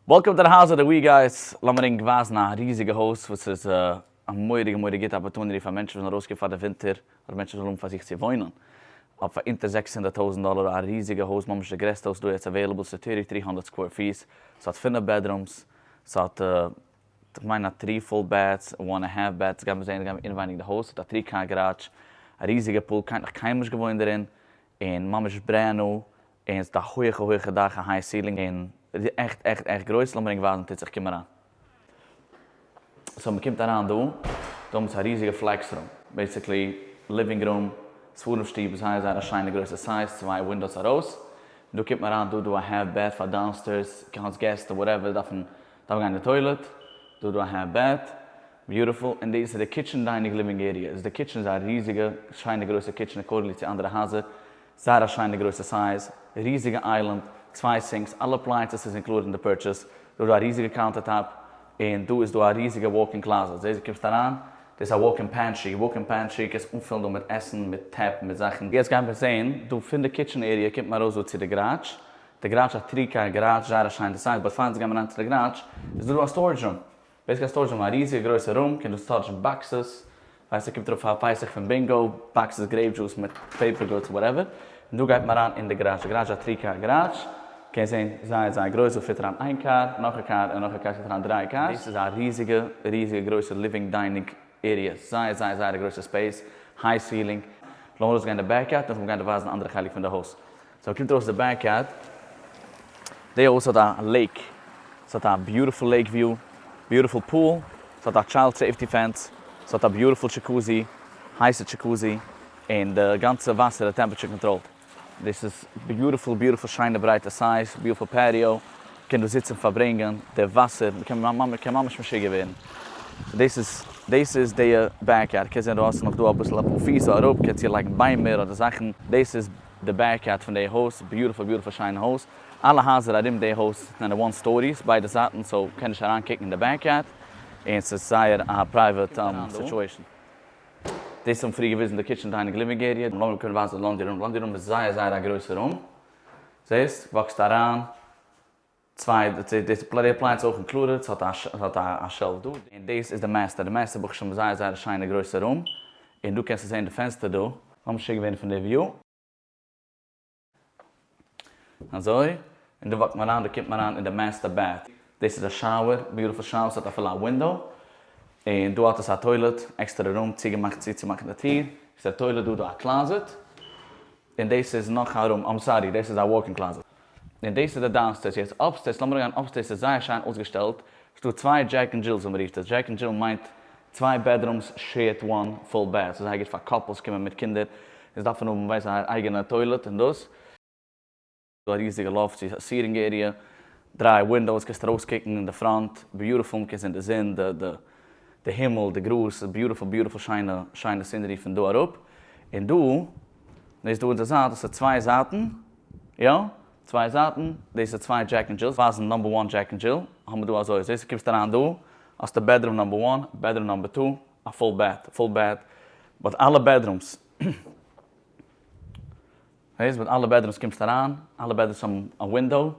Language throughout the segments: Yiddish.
וועלקאם טו די האוז אוו די ווי גייס, לאמיר ענק ווייזן א ריזיגע הויז וואס איז א מורא'דיגע מורא'דיגע גוטע אפארטוניטי פאר מענטשן וואס זענען ארויסגעקומען פאר די ווינטער אדער מענטשן וואס ווילן האבן פאר זיך צו וואוינען אויף פאר אונטער זעקס הונדערט טויזנט דאלער א ריזיגע הויז ממש די גרעסטע וואס איז דא יעצט אוועילעבל ס'איז טערטי טרי הונדערט סקווער פיס ס'האט פינף בעדרומס ס'האט כ'מיין א טרי פול בעטס און וואן ענד האלף בעטס גיימיר זעהן גיימיר אינעווייניג די הויז ס'האט א טרי קאר גאראדזש א ריזיגע פול כ'האב נאך קיינמאל נישט געוואוינט דערין און ממש ברענד ניו און ס'האט א הויעכע הויעכע דאך א היי סילינג און עכט עכט עכט גרויס לאמיר ענק ווייזן טוט זיך קום אריין סאו מ'קומט אריין דא דא האבן זיי א ריזיגע פלעקס רום בעסיקלי ליווינג רום ספרים שטוב זייער זייער א שיינע גרויסע סייז צוויי ווינדאוס ארויס און דא קומט מען אריין דא דא א האלף בעט פאר דאונסטערס קאנס געסט וואטעווער דארפן דארפן גיין אין די טוילעט דא דא א האלף בעט ביוטיפול און דאס איז די קיטשען דיינינג ליווינג עריע איז די קיטשען איז א ריזיגע שיינע גרויסע קיטשען אקארדינגלי צו אנדערע הייזער. זייער א שיינע גרויסע סייז, ריזיגע איילענד, צוויי סינקס, אלע אפלייענסעס איז אינקלודעד אין די פורטשעס, דא איז דא א ריזיגע קאונטער טאפ, און דא איז דא א ריזיגע וואלק אין קלאזעט, זעהסט דו קומסט אריין, דאס איז א וואלק אין פענטרי, וואלק אין פענטרי, קענסט אנפילן דא מיט עסן, מיט טעפ, מיט זאכן. יעצט גייען מיר זעהן, דא פון די קיטשען עריע קומט מען ארויס דא צו די גאראדזש, די גאראדזש איז א טרי קאר גאראדזש, זייער א שיינע סייז, באט פאר אונז גייען מיר אריין צו די גאראדזש, איז דא דא א סטארעדזש רום, וועסט קענסט טוישן א ריזיגע גרויסע רום קען דאס טוישן באקסעס ווען ס'קומט ארויף פאר פסח פון בינגא באקסעס גרעיפ דזשוס מיט פעיפער גודס וואטעווער און דא גייט מען אריין אין די גאראזש די גאראזש איז א טרי קאר גאראזש קען זעהן זייער זייער גרויס דא פיט אריין איין קאר נאך א קאר און נאך א קאר ס'פיט אריין דרײַ קארס דאס איז א ריזיגע ריזיגע גרויסע ליווינג דיינינג עריע זייער זייער זייער א גרויסע ספעיס היי סילינג לאמיר ארויס גיין די בעק יארד נאכדעם גיין די ווייזן אנדערע חלק פון די הויז. סאו קומט ארויס די בעק יארד, די הויז האט א לעיק, ס'האט א ביוטיפול לעיק וויו, ביוטיפול פול, ס'האט א טשיילד סעיפטי פענס, ס'האט א ביוטיפול טשיקוזי, הייסע טשיקוזי, און די גאנצע וואסער איז טעמפעטשער קאנטראלד, דאס איז ביוטיפול, ביוטיפול שיינע ברייטע סייז, ביוטיפול פעטיאו, מ'קען דא זיצן פארברענגען, די וואסער, מ'קען מ'קען ממש משוגע ווערן, דאס איז דאס איז די בעק יארד, קענסט זען דרויסן נאך דא אביסל אפאר פיס אראפ, קענסט צו לייגן ביימער אדער זאכן, דאס איז די בעק יארד פון די הויז, ביוטיפול ביוטיפול שיינע הויז, אלע הייזער ארום די הויז זענען וואן סטאריס ביידע זייטן סאו קען נישט אריין קוקן אין די בעק יארד, און ס'איז זייער א פרייוועט סיטואשען. דאס האבן פריער געוויזן די קיטשען דיינינג ליווינג עריע, לאמיר קודם ווייזן די לאנדרי רום, לאנדרי רום איז זייער זייער א גרויסע רום, זעסט? וואקסט אריין. צוויי די ספלעט אפלייענס איז אויך אין קלארער ס'האט א ס'האט א א שעלף דא און דאס איז די מעסטער די מעסטער ברוך השם זייער זייער א שיינע גרויסע רום און דא קענסטו זעהן די פענסטער דא לאמיר משוגע ווערן פון די וויו אזוי און דא וואקט מען אריין דא קומט מען אריין אין די מעסטער בעט דאס איז א שאוער ביוטיפול שאוער ס'האט אפילו א ווינדאו און דא האט עס א טוילעט עקסטערע רום צוגעמאכט צו צו מאכן די טיר עקסטערע טוילעט דא דא א קלאזעט און דאס איז נאך א רום, איים סארי דאס איז א וואלק אין קלאזעט, און דאס איז די דאונסטערס, יעצט אפסטערס, לאמיר אריין אפסטערס איז זייער שיין אויסגעשטעלט, ס'דא צוויי דזשעק און דזשילס ווי מען רופט עס, דזשעק און דזשיל מיינט צוויי בעדרומס שעירט וואן פול בעד, ס'איז זייער גוט פאר קאפלס קומען מיט קינדער און זיי דארפן האבן ווייסט א אייגענע טוילעט און דאס. א ריזיגע לאפט צו סיטינג עריע, דריי ווינדאוס קענסט ארויס קוקן אין די פראנט, ביוטיפול מקען זען די זון, די הימל, די גראז, ס'איז ביוטיפול ביוטיפול שיינע שיינע סינערי פון דא אראפ, און דא דאס דא אונזער זייט דאס איז צוויי זייטן, יא צוויי זייטן, דאס איז צוויי דזשעק ענד דזשילס, ווייזן נאמבער וואן דזשעק ענד דזשיל האבן דא אזוי אזוי, סאו קומסטו אריין דא האסטו בעדרום נאמבער וואן, בעדרום נאמבער טו, א פול בעט, פול בעט, באט אלע בעדרומס. הויז מיט אלע בעדרומס קומסט אריין, אלע בעדרומס האבן א ווינדאו,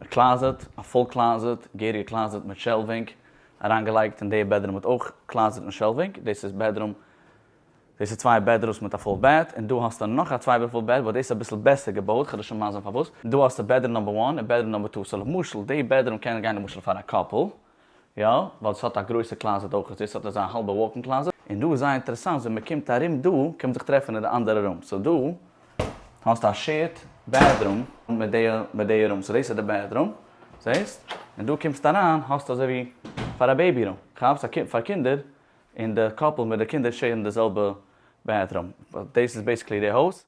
א קלאזעט, א פול קלאזעט, געהעריגע קלאזעט מיט שעלווינג אריינגעלייגט, און די בעדרום האט אויך קלאזעט מיט שעלווינג, דאס איז בעדרום, דאס איז צוויי בעדרוס מיט א פול בעט, און דא האסטו נאך א צוויי פול בעט, וואס דאס איז אביסל בעסער געבויט, כ'וועל דיר שוין מסביר פארוואס, דא האסטו בעדרום נאמבער וואן און בעדרום נאמבער טו, סאו למשל די בעדרום קען גיין למשל פאר א קאפל, יא, ווייל עס האט א גרויסע קלאזעט אויך, דאס האט אזא האלבע וואלקן קלאזעט, און דא איז זייער אינטערעסאנט ווען מען קומט ארום דא קען מען זיך טרעפן אין די אנדערע רום, סאו דא האסטו א שעירד בעדרום מיט די מיט די רום, סאו דאס איז די בעדרום, זעהסט? און דא קומסטו אריין האסטו אזוי ווי פאר א בעיבי רום, כאפסט? א קומפ פאר קינדער, און די קאפל מיט די קינדער שעירן די זעלבע בעדרום, דאס איז בעיסיקלי די הויז.